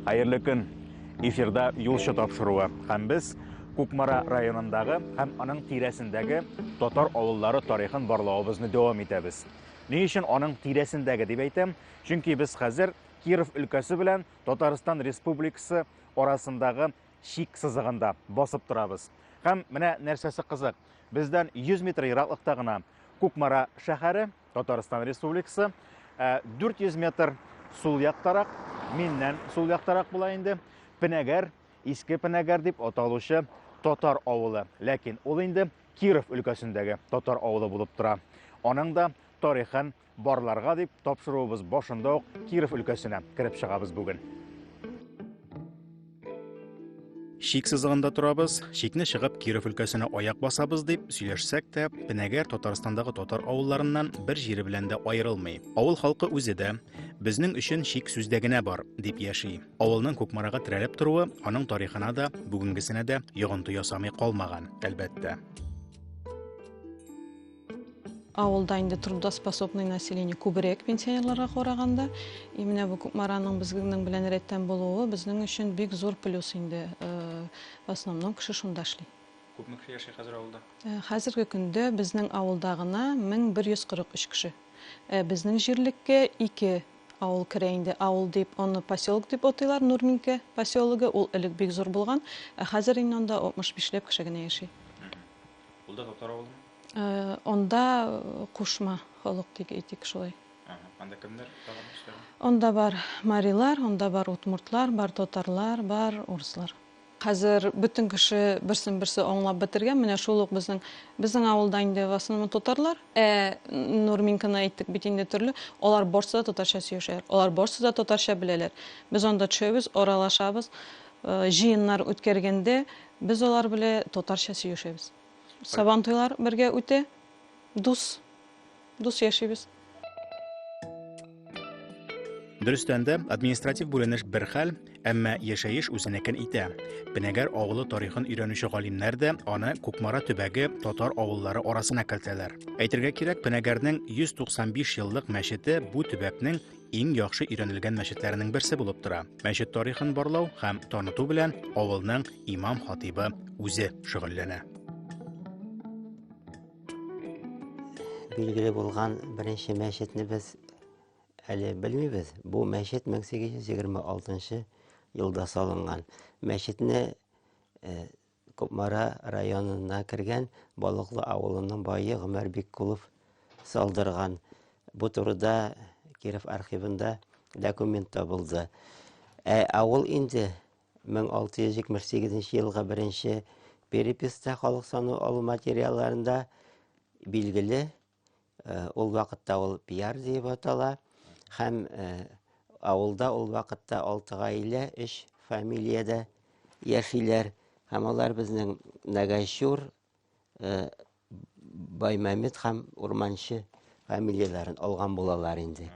Хәерле көн. Эфирда юлчы тапшыруы. Һәм без Кукмара районындагы һәм аның тирәсендәге татар авыллары тарихын барлавыбызны дәвам итәбез. Ни өчен аның тирәсендәге дип әйтәм? Чөнки без хәзер Киров өлкәсе белән Татарстан Республикасы арасындагы чик сызыгында басып торабыз. Һәм менә нәрсәсе кызык, бездән 100 метр ераклыкта гына Кукмара шәһәре, Татарстан Республикасы, 400 метр сул яктарак, миннән сул яктарак була инде, Пенәгәр, Иске Пенәгәр дип аталучы татар авылы. Ләкин ул инде Киров өлкәсендәге татар авылы булып тора. Аның да тарихын Барларга дип тапшыруыбыз башында ук Киров өлкәсенә кереп чыгабыз бүген. Шик сызыгында торабыз, шикне чыгып Киров өлкәсенә аяк басабыз дип сөйләшсәк тә, Пенәгәр Татарстандагы татар авылларыннан бер җире белән дә аерылмый. Авыл халкы үзе дә безнең өчен шик сүздә генә бар дип яши. Авылның Кукмарага терәлеп торуы аның тарихына да, бүгенгесенә дә йогынты ясамый калмаган, әлбәттә. Авылда инде трудоспособный население күбрәк пенсионерларга караганда. И менә бу Кукмараның безнең белән рәттән булуы безнең өчен бик зур плюс инде. Э, в основном кеше шунда эшли. Күпме кеше яши хәзер авылда? Э, хәзерге көндә безнең авылда гына 1143 кеше. Э, безнең җирлеккә ике авыл керә инде. Авыл дип, аны поселок дип атыйлар, Нурминкә поселогы. Ул элек бик зур булган, ә хәзер инде анда 65 ләп кеше генә яши. Ул да татар авылымы? Анда кушма халык дип әйтик шулай. Анда кемнәр тагын эшләгән? Анда бар марилар, анда бар удмуртлар, бар татарлар, бар урыслар. Хәзер бөтен кеше берсен-берсе аңлап бетергән. Менә шул ук безнең безнең авылда инде в основном татарлар. Ә Нурминканы әйттек бит инде төрле. Алар барсы да татарча сөйләшәләр. Алар барсы да татарча беләләр. Без анда төшәбез, аралашабыз. Җыеннар үткәргәндә без алар белә татарча сөешәбез. Сабантуйлар бергә үтә, дус, дус яшибез. Дөрестән дә, административ бүленеш бер хәл, әмма яшәеш үзенекен итә. Пенәгәр авылы тарихын өйрәнүче галимнәр дә аны Кукмара төбәге татар авыллары арасына кертәләр. Әйтергә кирәк, Пенәгәрнең 195 еллык мәчете бу төбәкнең иң яхшы өйрәнелгән мәчетләренең берсе булып тора. Мәчет тарихын барлау һәм таныту белән авылның имам-хатибы үзе шөгыльләнә. Билгеле булган беренче мәчетне без әле белмибез. Бу мәчет 1826 елда салынган. Мәчетне э, Кукмара районына кергән Балыклы авылының бае Гомәр Биккулов салдырган. Бу турыда Киров архивында документ табылды. Ә авыл инде 1678 елга беренче переписта халык сану алу материалларында билгеле. Э, ул вакытта ул пиар диеп атала һәм э, авылда ул вакытта алты гаилә өч фамилиядә яшиләр һәм алар безнең нәгайчур э, баймәмед һәм урманчы фамилияләрен алган булалар инде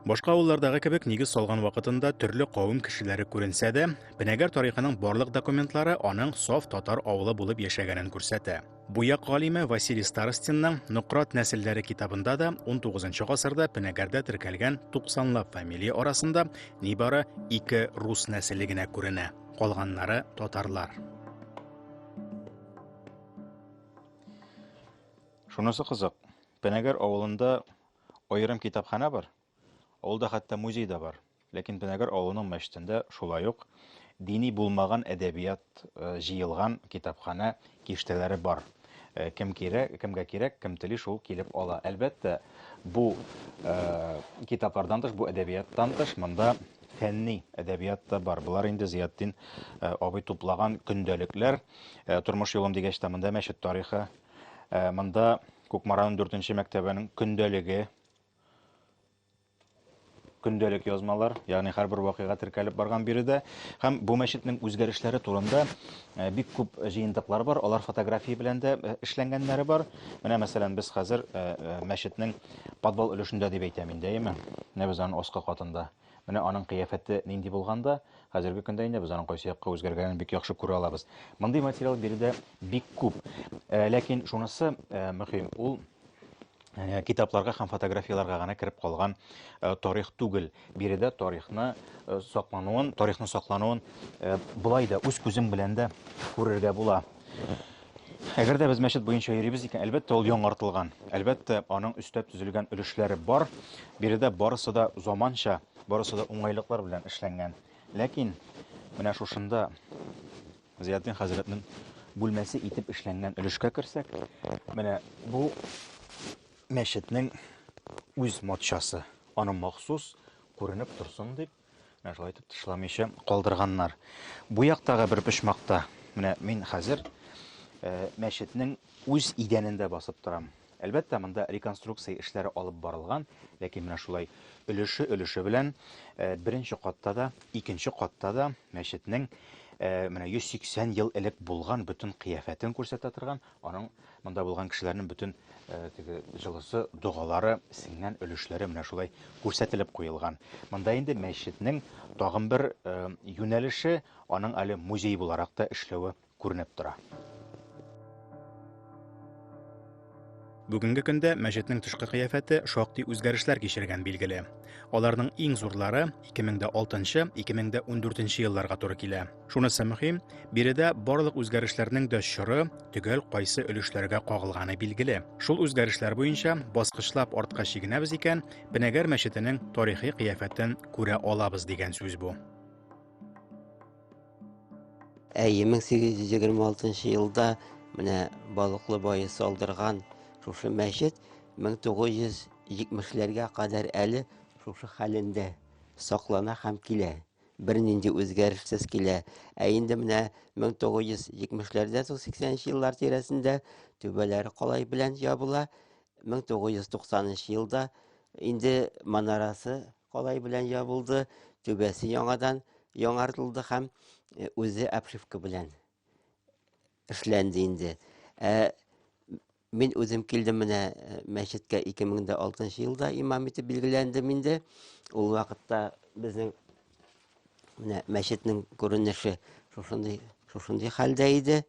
Башка авыллардагы кебек нигез салган вакытында төрле кавым кешеләре күренсә дә, Бенәгәр тарихының барлык документлары аның саф татар авылы булып яшәгәнен күрсәтә. Буяк галиме Василий Старостинның Нократ нәселләре китабында да 19 гасырда Бенәгәрдә теркәлгән 90лап фамилия арасында нибары ике рус нәселе генә күренә, калганнары татарлар. Шунысы кызык, Пенәгер авылында аерым китапханә бар. Ул да хәтта музей да бар. Ләкин Пенәгер авылының мәчетендә шулай ук дини булмаган әдәбият э, җыелган китапханә киштәләре бар. Э, кем кирәк, кемгә кирәк, кем тели шул килеп ала. Әлбәттә, бу э, китаплардан тыш, бу әдәбияттан тыш монда фәнни әдәбият та бар. Болар инде Зиятдин э, абый туплаган көндәлекләр, э, тормыш юлым дигәч тә монда мәчет тарихы, э, монда Кукмараның дүртенче мәктәбенең көндәлеге, көндәлек язмалар, ягъни һәрбер вакыйга теркәлеп барган биредә. Һәм бу мәчетнең үзгәрешләре турында э, бик күп җыентыклар бар, алар фотография белән дә э, эшләнгәннәре бар. Менә, мәсәлән, без хәзер э, мәчетнең подвал өлешендә дип әйтәм инде, әйеме? Менә без аның аскы катында. Менә аның кыяфәте нинди булган да, хәзерге көндә инде без аның кайсы якка үзгәргәнен бик яхшы күрә алабыз. Мондый материал биредә бик күп. Э, ләкин шунысы э, мөһим, ул э, китапларга һәм фотографияларга гына кереп калган тарих түгел. Биредә тарихны саклануын, тарихны саклануын болай да үз күзең белән дә күрергә була. Әгәр дә без мәчет буенча йөрибез икән, әлбәттә, ул яңартылган. Әлбәттә, аның өстәп төзелгән өлешләре бар. Биредә барысы да заманча, барысы да уңайлыклар белән эшләнгән. Ләкин менә шушында Зиятдин хәзрәтнең бүлмәсе итеп эшләнгән өлешкә керсәк, менә бу мәчетнең үз матчасы, аның махсус күренеп торсын дип, Менә шулай итеп тышламыйча калдырганнар. Бу яктагы бер почмакта менә мин хәзер э, мәчетнең үз идәнендә басып торам. Әлбәттә, монда реконструкция эшләре алып барылган, ләкин менә шулай өлеше өлеше белән э, беренче катта да, икенче катта да мәчетнең э, менә 180 ел элек булган бөтен кыяфәтен күрсәтә торган Аның монда булган кешеләрнең бөтен теге җылысы, догалары, сеңгән өлешләре менә шулай күрсәтелеп куелган. Монда инде мәчетнең тагын бер юнәлеше, аның әле музей буларак та эшләве күренеп тора. Бүгенге көндә мәчетнең тышкы кыяфәте шактый үзгәрешләр кичергән билгеле. Аларның иң зурлары 2006-2014 елларга туры килә. Шунысы мөһим, биредә барлык үзгәрешләрнең дә чоры төгәл кайсы өлешләргә кагылганы билгеле. Шул үзгәрешләр буенча баскычлап артка чигенәбез икән, Пенәгәр мәчетенең тарихи кыяфәтен күрә алабыз дигән сүз бу. Әйе, 1826 елда менә Балыклы бае салдырган шушы мәчет 1970-ләргә кадәр әле шушы хәлендә саклана һәм килә. бернинди үзгәрешсез килә. Ә инде менә 1970-ләрдә соң 80 еллар тирәсендә түбәләре калай белән ябыла. 1990 елда инде манарасы калай белән ябылды, түбәсе яңадан яңартылды һәм э, үзе обшивка белән эшләнде инде. Ә Мин үзем килдем менә э, мәчеткә 2006 елда имам итеп билгеләндем инде. Ул вакытта безнең менә мәчетнең күренеше шушындый шушындый хәлдә иде.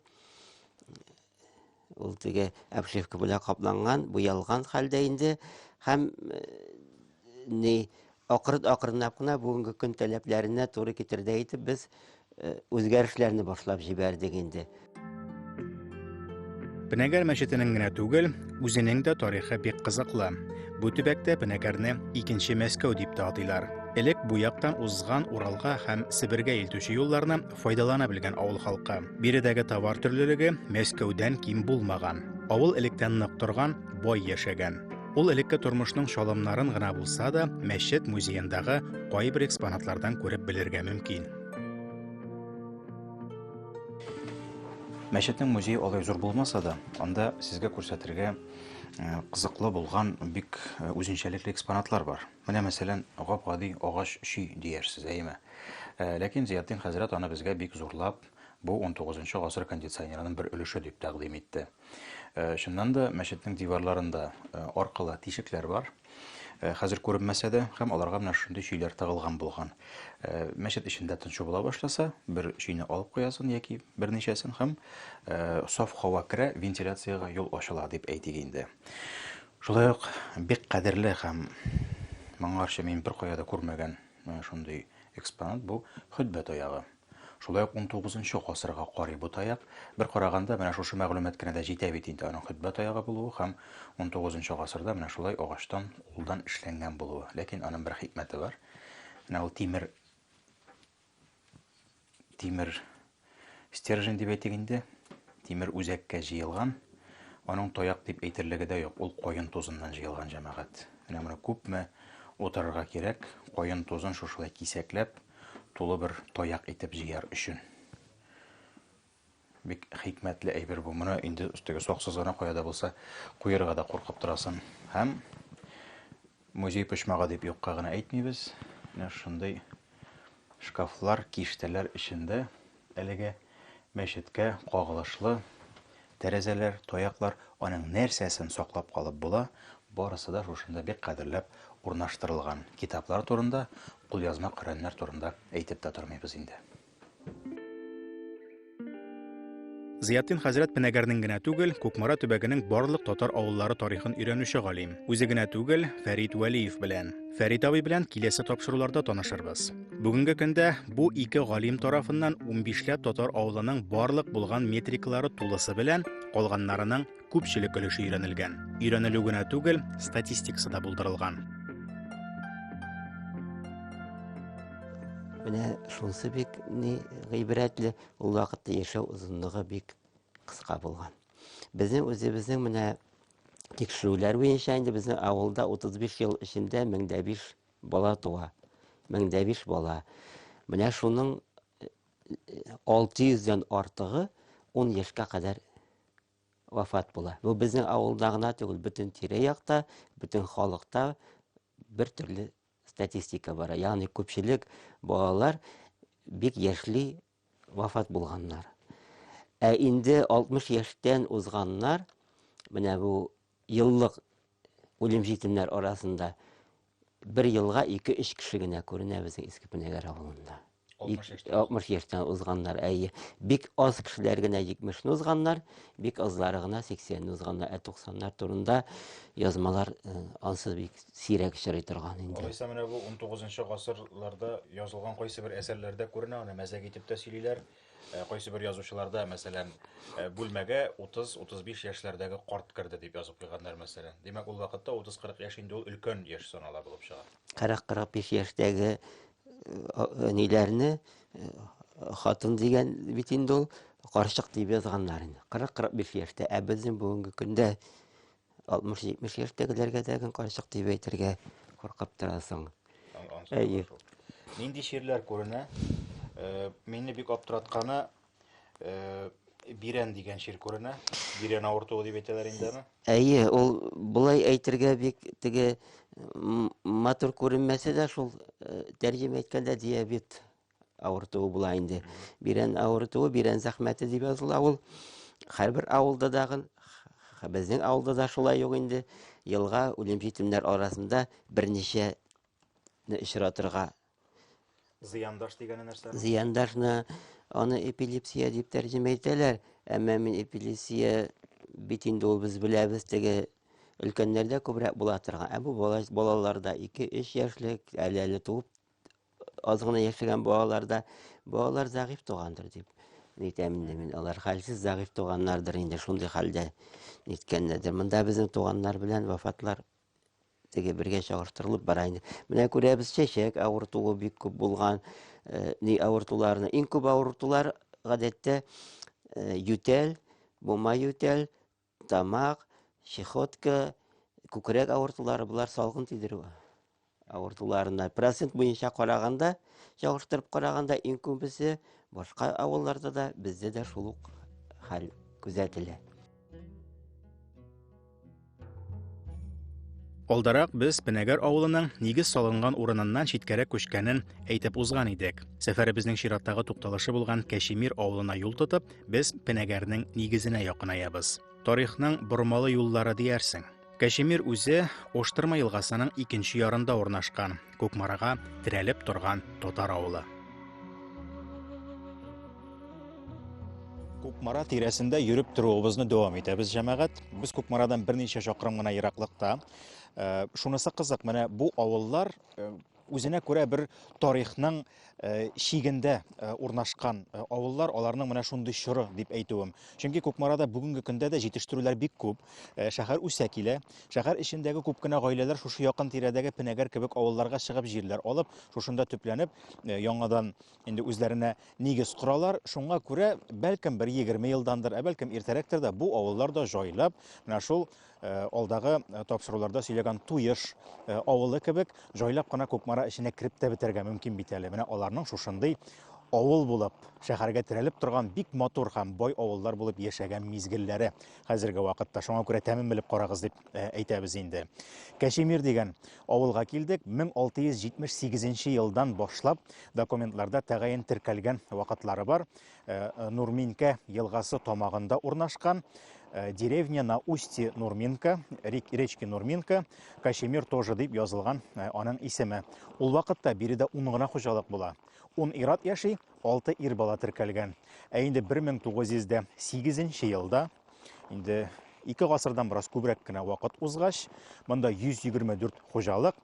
Ул теге обшивка белән капланган, буялган хәлдә инде һәм э, ни Акрын-акрынлап кына бүгенге көн таләпләренә туры китердәй итеп без үзгәрешләрне башлап җибәрдек инде. Пенәгәр мәчетенең генә түгел, үзенең дә тарихы бик кызыклы. Бу төбәктә Пенәгәрне икенче Мәскәү дип тә атыйлар. Элек бу яктан узган Уралга һәм Себергә илтүче юлларны файдалана белгән авыл халкы. Биредәге товар төрлелеге Мәскәүдән ким булмаган. Авыл электән нык торган, бай яшәгән. Ул элекке тормышның чалымнарын гына булса да, мәчет музеендагы кайбер экспонатлардан күреп белергә мөмкин. Мәчетнең музее алай зур булмаса да, анда сезгә күрсәтергә э, кызыклы булган бик э, үзенчәлекле экспонатлар бар. Менә мәсәлән, гап-гади агач ши диярсез, әйеме? Э, ләкин Зиятдин хәзрәт аны безгә бик зурлап, бу 19 гасыр кондиционерының бер өлеше дип тәкъдим итте. Чыннан да, мәчетнең диварларында аркылы тишекләр бар. Хәзер күренмәсә дә, һәм аларга менә шундый чөйләр тагылган булган. Мәчет эчендә тынчу була башласа, бер чөйне алып куясын яки берничәсен һәм саф һава керә, вентиляциягә юл ачыла дип әйтик инде. Шулай ук бик кадерле һәм моңарчы мин беркая да күрмәгән шундый экспонат бу хөтбә таягы. Шулай ук унтугызынчы гасырга карый бу таяк. Бер караганда, менә шушы мәгълүмат кенә дә җитә бит инде аның хөтбә таягы булуы һәм унтугызынчы гасырда менә шулай агачтан, улдан эшләнгән булуы. Ләкин аның бер хикмәте бар. Менә ул тимер тимер стержень дип әйтик инде, тимер үзәккә җыелган. Аның таяк дип әйтерлеге дә юк, ул каен тузыннан җыелган җәмәгать. Менә моны күпме утырырга кирәк, каен тузын шушылай кисәкләп, тулы бер таяк итеп җыяр өчен. Бик хикмәтле әйбер бу. Моны инде теге саксыз гына каяда булса куерга да куркып торасың. Һәм музей почмагы дип юкка гына әйтмибез. Менә шундый шкафлар, киштәләр эчендә Әлеге мәчеткә кагылышлы тәрәзәләр, таяклар, аның нәрсәсен саклап калып була, барысы да шушында бик кадерләп урнаштырылган. Китаплар турында, кулъязма Коръәннәр турында әйтеп тә тормыйбыз инде. Зыятдин хәзрәт Пенәгәрнең генә түгел, Кукмара төбәгенең барлык татар авыллары тарихын өйрәнүче галим. Үзе генә түгел, Фәрит Вәлиев белән. Фәрит абый белән киләсе тапшыруларда танышырбыз. Бүгенге көндә бу ике галим тарафыннан 15 ләп татар авылының барлык булган метрикалары тулысы белән, калганнарының күпчелек өлеше өйрәнелгән. Өйрәнелү генә түгел, статистикасы да булдырылган. Менә шунсы бик ни гыйбрәтле, ул вакытта яшәү озынлыгы бик кыска булган. Безнең үзебезнең менә тикшерүләр буенча инде безнең авылда 35 ел эчендә 1005 Бала туа. Мең дә биш бала. Менә шуның 600 дән артыгы 10 яшькә кадәр вафат була. Бу безнең авылда гына түгел, бөтен тирә-якта, бөтен халыкта бер төрле статистика бара. Ягъни күпчелек балалар бик яшьли вафат булганнар. Ә инде 60 яшьтән узганнар, менә бу еллык үлем җитемнәр арасында бер елга 2-3 кеше генә күренә безнең Иске Пенәгәр авылында. 60 яшьтән узганнар, әйе. Бик аз кешеләр генә 70-не узганнар, бик азлары гына 80-не узганнар, ә 90-нар турында язмалар э, ансыз бик сирәк очрый торган инде. Алайса менә бу 19 гасырларда язылган кайсы бер әсәрләрдә күренә, аны мәзәк итеп тә сөйлиләр. Э, кайсы бер язучыларда, мәсәлән, э, бүлмәгә 30-35 яшьләрдәге карт керде дип язып куйганнар, мәсәлән. Димәк, ул вакытта 30-40 яшь инде ул өлкән яшь санала булып чыга. 40-45 яшьтәге э, ниләрне хатын дигән бит инде ул карчык дип язганнар инде. 40-45 яшьтә, ә безнең бүгенге көндә 60-70 яшьтәгеләргә дәген карчык дип әйтергә куркып торасың. Әйе. Нинди чирләр күренә? Э, мине бик аптыратканы э, бирән дигән чир күренә. Бирән авыртуы дип әйтәләр инде аны. Әйе, ул болай әйтергә бик теге матур күренмәсә дә шул э, тәрҗемә әйткәндә диабет Авыртуы була инде. Бирән авыртуы, бирән зәхмәте дип языла ул. Һәрбер авылда дагы, х- безнең авылда да шулай ук инде, елга үлем-җитемнәр арасында берничә не очратырга Зыяндаш дигәне нәрсә? зыяндашны аны эпилепсия дип тәрҗемә итәләр, әмма мин эпилепсия бит инде ул без беләбез теге өлкәннәрдә күбрәк була торган, ә бу бала, балаларда 2-3 яшьлек, әле әле туып аз гына яшәгән балаларда балалар зәгыйфь тугандыр дип әйтәм инде мин алар хәлсез зәгыйфь туганнардыр инде шундый хәлдә ниткәннәрдер монда безнең туганнар белән вафатлар теге бергә чагыштырылып бара инде менә күрәбез чәчәк авыртуы бик күп булган э, ни авыртуларны иң күп авыртулар гадәттә э, ютәл бума ютәл Тамак, чехотка, күкрәк авыртулары болар салгын тидерү авыртуларына процент буенча караганда, чагыштырып караганда иң күбесе башка авылларда да бездә дә шул ук хәл күзәтелә. Алдарак без Пенәгәр авылының нигез салынган урыныннан читкәрәк күчкәнен әйтеп узган идек. Сәфәребезнең чираттагы тукталышы булган Кәшемир авылына юл тотып, Без Пенәгәрнең нигезенә якынаябыз. Тарихның бормалы юллары диярсең. Кәшемир үзе Оштырма елгасының икенче ярында урнашкан, Кукмарага терәлеп торган татар авылы. Кукмара тирәсендә йөреп торуыбызны дәвам итәбез, җәмәгать. Без Кукмарадан берничә чакрым гына ераклыкта. Э, шунысы кызык, менә бу авыллар э, Үзенә күрә бер тарихның э, чигендә э, урнашкан э, авыллар, аларның менә шундый чоры дип әйтүем. Чөнки Кукмарада бүгенге көндә дә җитештерүләр бик күп. Шәһәр үсә килә. Шәһәр эчендәге күп кенә гаиләләр шушы якын тирәдәге Пенәгәр кебек авылларга чыгып җирләр алып, шушында төпләнеп, яңадан инде үзләренә нигез коралар. Шуңа күрә, бәлкем, бер 20 елдандыр, ә бәлкем иртәрәктер дә бу авыллар да җайлап, менә шул Э, алдагы э, тапшыруларда сөйләгән туеш э, авылы кебек җайлап кына кукмара эченә кереп тә бетәргә мөмкин бит әле менә аларның шушындый авыл булып шәһәргә терәлеп торган бик матур һәм бай авыллар булып яшәгән мизгелләре хәзерге вакытта шуңа күрә тәмен белеп карагыз дип әйтәбез инде кәшемир дигән авылга килдек 1678 елдан башлап документларда тәгаен теркәлгән вакытлары бар Э, э, Нурминка елгасы тамагында урнашкан э, деревня на устье Нурминка, речки Нурминка, Кашемир тоже дип язылган аның исеме. Ул вакытта биредә 10 гына хуҗалык була. 10 ират яши, 6 ир бала теркәлгән. Ә инде 1908 елда инде ике гасырдан бераз күбрәк кенә вакыт узгач, монда 124 хуҗалык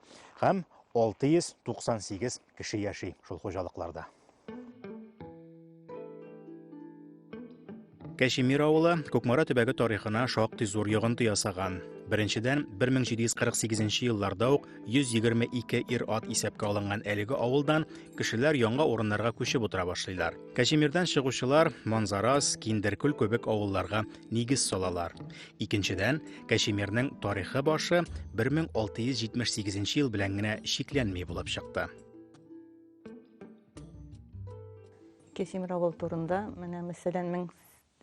һәм 698 кеше яши шул хуҗалыкларда. Кәчемир авылы Кукмара төбәге тарихына шактый зур йогынты ясаган. Беренчедән, 1748 елларда ук 122 ир-ат исәпкә алынган әлеге авылдан кешеләр яңа урыннарга күчеп утыра башлыйлар. Кәчемирдән чыгучылар Манзарас, Киндеркүл кебек авылларга нигез салалар. Икенчедән, Кәшемирнең тарихы башы 1678 ел белән генә чикләнми булып чыкты. Кәшемир авыл турында менә мәсәлән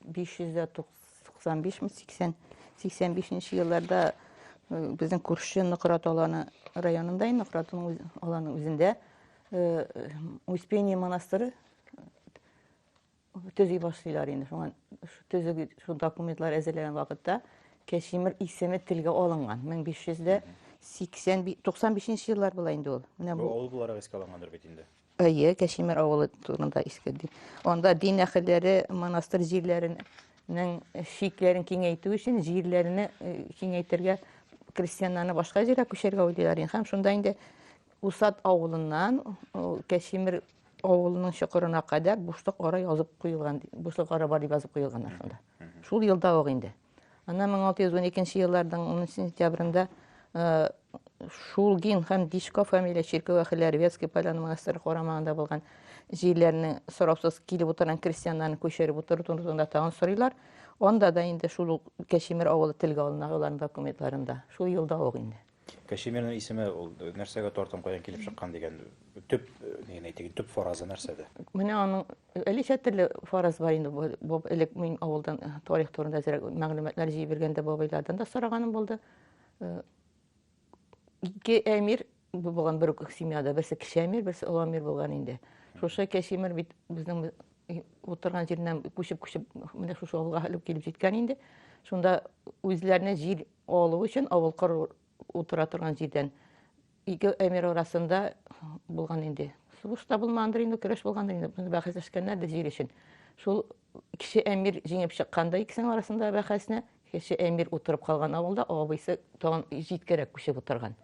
1595-80 85 елларда безнең күрше Нократ аланы районында, Нократ аланы үзендә Успение монастыры төзи башлыйлар инде. Шуңа төзи шул документлар әзерләгән вакытта Кәшимир исеме телгә алынган. 1595 еллар була инде ул. Менә бу авыл буларак искә алынгандыр бит инде. Әйе, Кәшимир авылы турында искә ди. Анда дин әһелләре монастырь җирләренең шикләрен киңәйтү өчен җирләрне э, киңәйтергә крестьяннарны башка җиргә күчәргә уйлыйлар һәм шунда инде Усад авылыннан Кәшимер авылының чокырына кадәр бушлык ара язып куелган, бушлык ара бар дип язып куелган шунда. Шул елда ук инде. Ана 1612 елларның 10 сентябрендә э, Шулгин һәм Дичко фамилия чиркәү әхелләре Вятский поляны монастыры карамагында булган җирләрне сорапсыз килеп утырган крестьяннарны күчереп утыру турында тагын сорыйлар. Анда да инде шул Кәшимер авылы телгә алына аларның документларында. Шул елда ук инде. Кашемирның исеме ул нәрсәгә тартым каян килеп чыккан дигән төп нигә әйтик, төп фаразы нәрсәдә? Менә аның әлечә төрле фараз бар инде. Бу элек мин авылдан э, тарих турында зирәк мәгълүматлар җыеп биргәндә бабайлардан да сораганым булды. Э, ике әмир булган бер үк семьяда, берсе кече әмир, берсе олы әмир булган инде. Шушы кәшимер бит безнең утырган җиреннән күчеп-күчеп менә шушы авылга элеп килеп җиткән инде. Шунда үзләренә җир Алу өчен авыл кыр утыра торган җирдән ике әмир арасында булган инде. Сугыш та булмагандыр инде, көрәш булгандыр инде. Без бәхәсләшкәннәр дә җир өчен. Шул кеше әмир җиңеп чыкканда икесенең арасында бәхәсне, кеше әмир утырып калган авылда абыйсы тагын җиткәрәк күчеп утырган.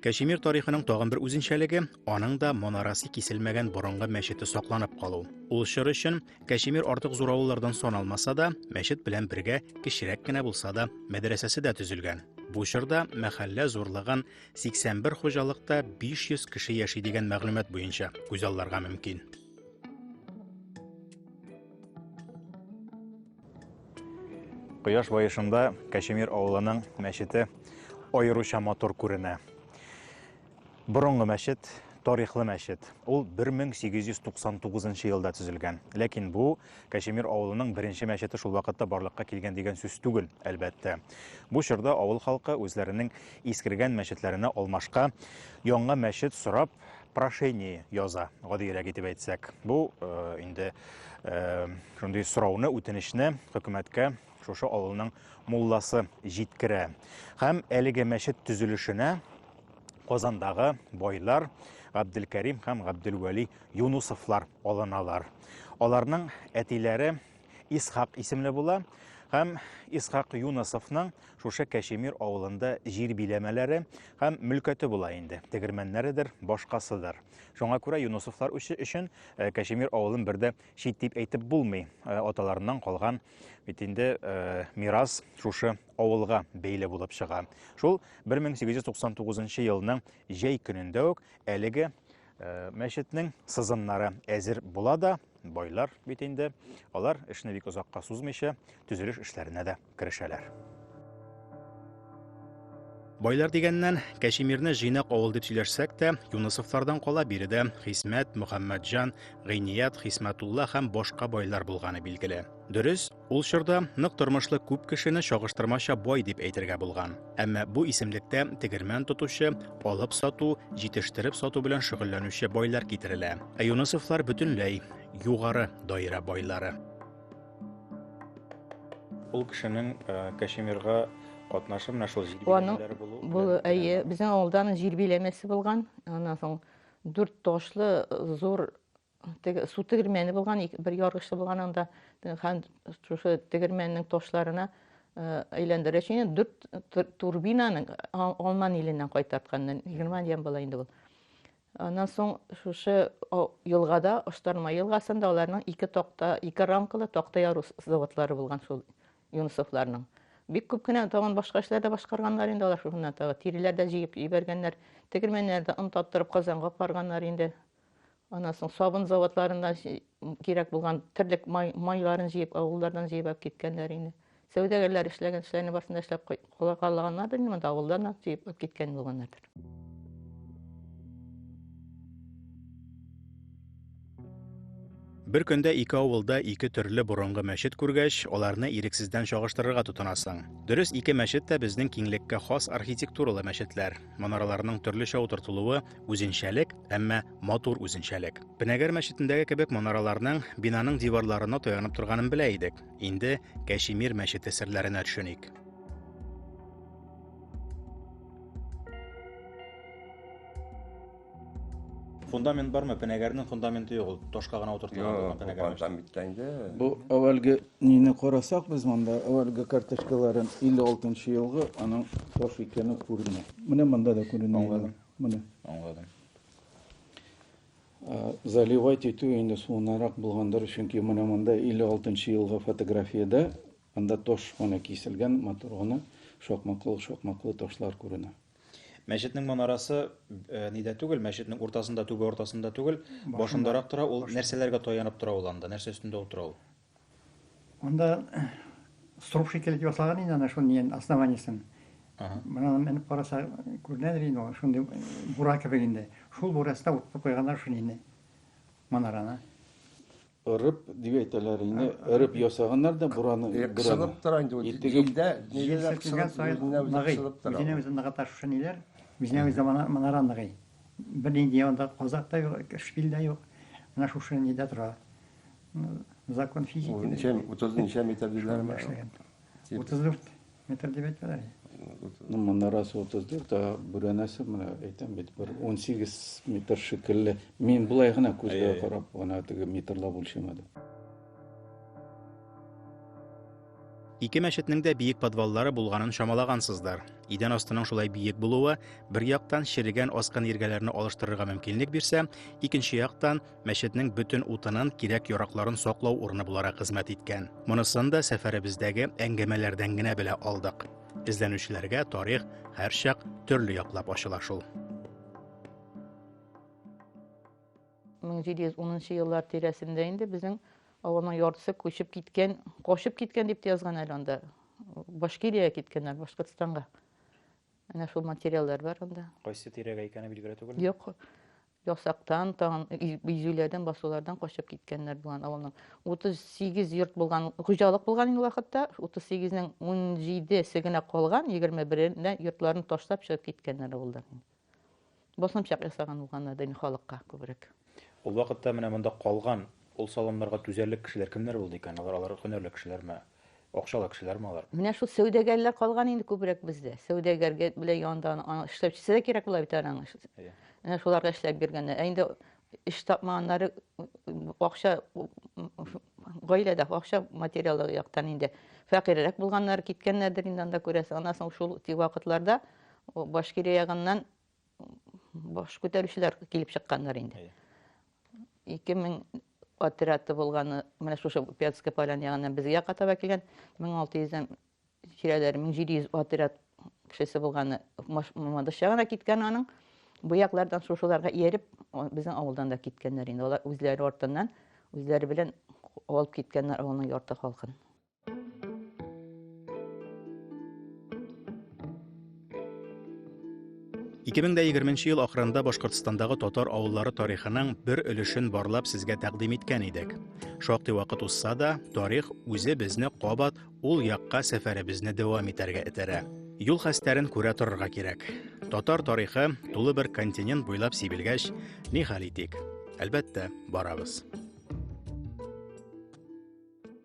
Кәшемир тарихының тагын бер үзенчәлеге, аның да монарасы киселмәгән борынгы мәчете сакланып калу. Ул чор өчен Кәшемир артык зур авыллардан сан алмаса да, мәчет белән бергә кечерәк кенә булса да, мәдрәсәсе дә төзелгән. Бу чорда мәхәллә зурлыгын 81 хуҗалыкта 500 кеше яши дигән мәгълүмат буенча күзалларга мөмкин. Кояш баешында Кәчемир авылының мәчете аеруча матур күренә. Борынгы мәчет, тарихлы мәчет. Ул 1899 елда төзелгән. Ләкин бу Кәчемир авылының беренче мәчете шул вакытта барлыкка килгән дигән сүз түгел, әлбәттә. Бу чорда авыл халкы үзләренең искергән мәчетләренә алмашка яңа мәчет сорап прошение яза, гадиерәк итеп әйтсәк. Бу э, инде э, шундый сорауны, үтенечне хөкүмәткә шушы авылның мулласы җиткерә. Һәм әлеге мәчет төзелешенә Казандагы байлар Габделкәрим һәм Габделвәли Юнусовлар алыналар. Аларның әтиләре Исхак исемле була һәм Исхак Юносовның шушы Кәшемир авылында җир биләмәләре һәм мөлкәте була инде. Тегермәннәредер, башкасыдыр. Шуңа күрә Юносовлар өчен э, Кәшемир авылын бер дә чит дип әйтеп булмый. Э, аталарыннан калган бит инде э, мирас шушы авылга бәйле булып чыга. Шул 1899 елның җәй көнендә үк әлеге мәчетнең сызымнары әзер була да Байлар бит инде, алар эшне бик озакка сузмыйча, төзелеш эшләренә дә керешәләр. Байлар дигәннән, Кәшимирне җыйнак авыл дип сөйләшсәк тә, Юнысовлардан кала биредә Хисмәт, Мөхәммәтҗан, Гыйният, Хисмәтулла һәм башка байлар булганы билгеле. Дөрес, Ул чорда нык тормышлы күп кешене чагыштырмача бай дип әйтергә булган. Әмма бу исемлектә тегермән тотучы, алып сату, җитештереп сату белән шөгыльләнүче байлар китерелә. Ә Юнысовлар бөтенләй югары даирә байлары. Ул кешенең э, Кашемирга катнашы менә шул җирбиләмәләре булу. Бу әйе, безнең авылдан җирбиләмәсе булган. Аннан соң дүрт ташлы зур теге су тегермәне булган, бер яргычлы булган анда һәм шушы тегермәннең ташларына әйләндерә өчен дүрт турбинаның Алман иленнән кайтартканнан Германиядән була инде ул. Аннан соң шушы елгада, Оштарма елгасында аларның ике такта, ике рамкалы такта яру заводлары булган шул Юнусовларның. Бик күп кенә тагын башка эшләр дә башкарганнар инде алар шуннан тагы. Тиреләр дә җыеп ибәргәннәр, тегермәннәрдә он таттырып Казанга апарганнар инде. Аннан соң сабын заводларында кирәк булган терлек майларын җыеп, авыллардан җыеп алып киткәннәр инде. Сәүдәгәрләр эшләгән эшләрне барсын да эшләп калганнардыр инде, монда авылдан да җыеп алып киткән булганнардыр. Бер көндә ике авылда ике төрле борынгы мәчет күргәч, аларны ирексездән чагыштырырга тотынасың. Дөрес, ике мәчет тә безнең киңлеккә хас архитектуралы мәчетләр. Манараларның төрлечә утыртылуы Үзенчәлек, әмма матур үзенчәлек. Пенәгәр мәчетендәге кебек манараларның, бинаның диварларына таянып торганын белә идек. Инде Кәшимир мәчете серләренә төшеник. Фундамент бармы? Пенәгәрнең фундаменты юк, ул ташка гына утыртылган булган пенәгәр мәчете. Фундамент инде. Бу әүвәлге Нины карасак без монда, әлеге карточкаларын 56 нчы елгы, аның таш икәне күренә. Менә монда да күренә. Аңладым. Менә. Аңладым. Заливать итү инде суынарак булгандыр, чөнки менә монда 56 нчы елгы фотографиядә анда таш менә киселгән, матур гына шакмаклы-шакмаклы ташлар күренә. Мәчетнең манарасы нидә түгел, мәчетнең уртасында, түбә уртасында түгел, башындарак тора, ул нәрсәләргә таянып тора ул анда, нәрсә өстендә утыра ул? Анда струп шикелле итеп ясалган инде ана шуны дигән основаниесен. Мына менеп караса күренәдер инде ул, шундый бура кебек инде. Шул бурасына утыртып куйганнар шуны инде манараны. Ырып дип әйтәләр инде. Ырып ясаганнар да бураны. Э, кысылып тора инде. Итегендә ниләрдә кысылып үзенә үзе кысылып тора. Үзенә үзе ныгыта шушы ниләр. Үзенә үзе манара ныгый. Бер нинди анда казак та юк, шпиль дә юк. Менә шушы нидә тора. Закон физики. Ничә, 30 ничә метр диләрме? 34 метр дип әйтәләр. Ну, манарасы 34, а бүрәнәсе менә әйтәм бит, бер 18 метр шикелле. Мин болай гына күзгә карап, гына теге метрлап үлчәмәдем. Ике мәчетнең дә биек подваллары булганын чамалагансыздыр. Идән астының шулай биек булуы бер яктан черегән аскан иргәләрне алыштырырга мөмкинлек бирсә, икенче яктан мәчетнең бөтен утынын, кирәк-яракларын саклау урыны буларак хезмәт иткән. Монысын да сәфәребездәге әңгәмәләрдән генә белә алдык. Эзләнүчеләргә тарих һәрчак төрле яклап ачыла шул. 1710 еллар тирәсендә инде безнең авылның яртысы күчеп киткән, качып киткән дип язган әле анда. Башкирия киткәннәр, Башкортстанга. Әнә шул материаллар бар анда. Кайсы тирәгә икәне билгеле түгел. Юк. Ясактан, тагын изүләрдән, басулардан качып киткәннәр булган авылның. 38 йорт булган, хуҗалык булган инде вакытта, 38-нең 17-се генә калган, 21-нә йортларын ташлап чыгып киткәннәр авылдан. Басымчак ясаган булганнар да инде халыкка күбрәк. Ул вакытта менә монда калган, ул салымнарга түзәрлек кешеләр кемнәр булды икән? Алар алар һөнәрле кешеләрме? Акчалы кешеләрме алар? Менә шул сәүдәгәрләр калган инде күбрәк бездә. Сәүдәгәргә белән янда эшләүчесе дә кирәк була бит аның. Менә шуларга эшләп биргәннәр. Ә инде эш тапмаганнары акча гаиләдә акча материалы яктан инде фәкыйрьрәк булганнар киткәннәрдер инде анда күрәсең. Аннан соң шул вакытларда Башкирия ягыннан баш күтәрүчеләр килеп чыкканнар инде. Ике мең отряды булганы, менә шушы Пятская поляна ягыннан безгә катаба килгән, 1600-дән тирәләре 1700 отряд кешесе булганы Мамадыш ягына киткән аның. Бу яклардан шушыларга ияреп, безнең авылдан да киткәннәр инде. Алар үзләре артыннан, үзләре белән алып киткәннәр авылның ярты халкын. Ике мең дә егерменче ел ахырында Башкортстандагы татар авыллары тарихының бер өлешен барлап сезгә тәкъдим иткән идек. Шактый вакыт узса да, тарих үзе безне кабат ул якка сәфәребезне дәвам итәргә этәрә. Юл хәстәрен күрә торырга кирәк. Татар тарихы тулы бер континент буйлап сибелгәч, ни хәл итик? Әлбәттә, барабыз.